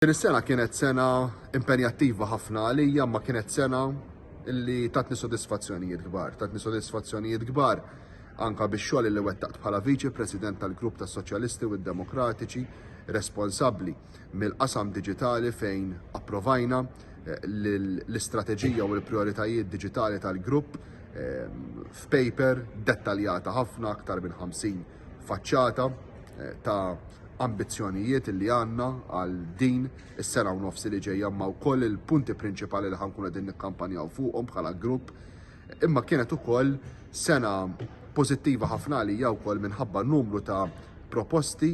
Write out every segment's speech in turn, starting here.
Din is-sena kienet sena impenjattiva ħafna għalija imma kienet sena li tatni sodisfazzjonijiet kbar. Tatni sodisfazzjonijiet kbar anka bix-xogħol li wettaqt bħala Viċi President tal-Grupp tas-Soċjalisti u d-Demokratiċi responsabbli mill-qasam diġitali fejn approvajna eh, l-istrateġija u l-prioritajiet diġitali tal-grupp eh, f'paper dettaljata ħafna aktar minn 50 faċċata ta' ambizzjonijiet li għandna għal din is-sena u nofs li ġejja ma' wkoll il-punti prinċipali li ħankun qegħdin nikkampanjaw fuqhom bħala grupp. Imma kienet ukoll sena pożittiva ħafna għalija wkoll minħabba numru ta' proposti,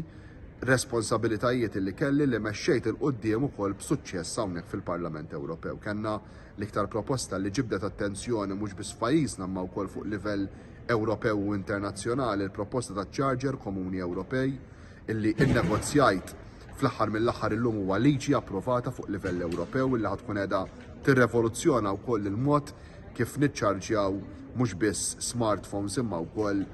responsabilitajiet li kelli li mexxejt il quddiem ukoll b'suċċess hawnhekk fil-Parlament Ewropew. Kellna l-iktar proposta li ġibdet attenzjoni mhux biss f'pajjiżna ma wkoll fuq livell Ewropew u internazzjonali l-proposta ta' ċarġer komuni Ewropej, illi nnegozjajt fl-aħħar mill-aħħar illum huwa liġi approvata fuq livell Ewropew illi ħa tkun qiegħda tirrevoluzzjona wkoll il-mod kif niċċarġjaw mhux biss smartphones imma wkoll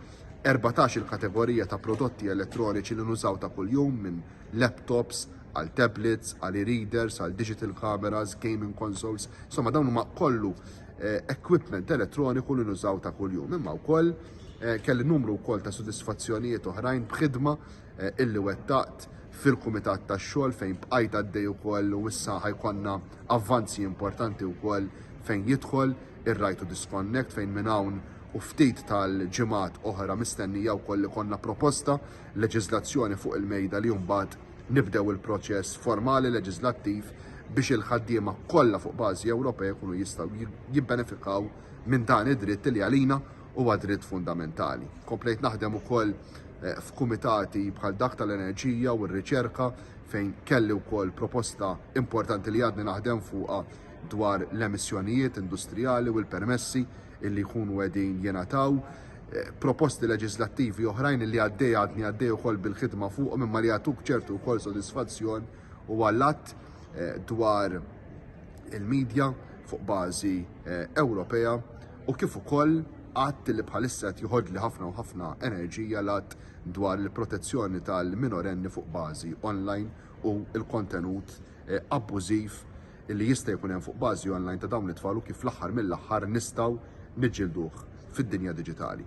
erbatax-il kategorija ta' prodotti elettroniċi li nużaw ta' kuljum minn laptops għal tablets, għal e-readers, għal digital cameras, gaming consoles, insomma dawn huma kollu eh, equipment elettroniku li nużaw ta' kuljum. Imma wkoll eh, kelli numru wkoll ta' sodisfazzjonijiet oħrajn b'ħidma eh, illi wettaqt fil-Kumitat tax-Xogħol fejn bqajt għaddej ukoll u issa ħajkonna avvanzi importanti wkoll fejn jidħol ir-Right to Disconnect fejn minn hawn u ftit tal-ġimgħat oħra mistennija wkoll li konna proposta leġiżlazzjoni fuq il-mejda li mbagħad nibdew il-proċess formali leġiżlattiv biex il-ħaddiema kollha fuq bażi Ewropea jkunu jistgħu jibbenefikaw minn dan id-dritt li għalina huwa dritt fundamentali. Komplejt naħdem ukoll eh, f'kumitati bħal dak tal-enerġija u r-riċerka fejn kelli wkoll proposta importanti li għadni naħdem fuqha dwar l-emissjonijiet industrijali u l-permessi illi jkunu qegħdin jingħataw, proposti leġislattivi oħrajn li għaddej għadni għaddej ukoll bil-ħidma fuqhom imma li jagħtuk ċertu wkoll sodisfazzjon u għall-att eh, dwar il-medja fuq bażi eh, Ewropea u kif ukoll għadd li bħalissa qed joħodli ħafna u ħafna enerġija l-għadd dwar il-protezzjoni tal-minorenni fuq bażi online u l-kontenut eh, abbużiv li jista' jkun hemm fuq bażi online ta' dawn it-tfal u kif fl-aħħar mill-aħħar nistgħu niġġielduh fid-dinja diġitali.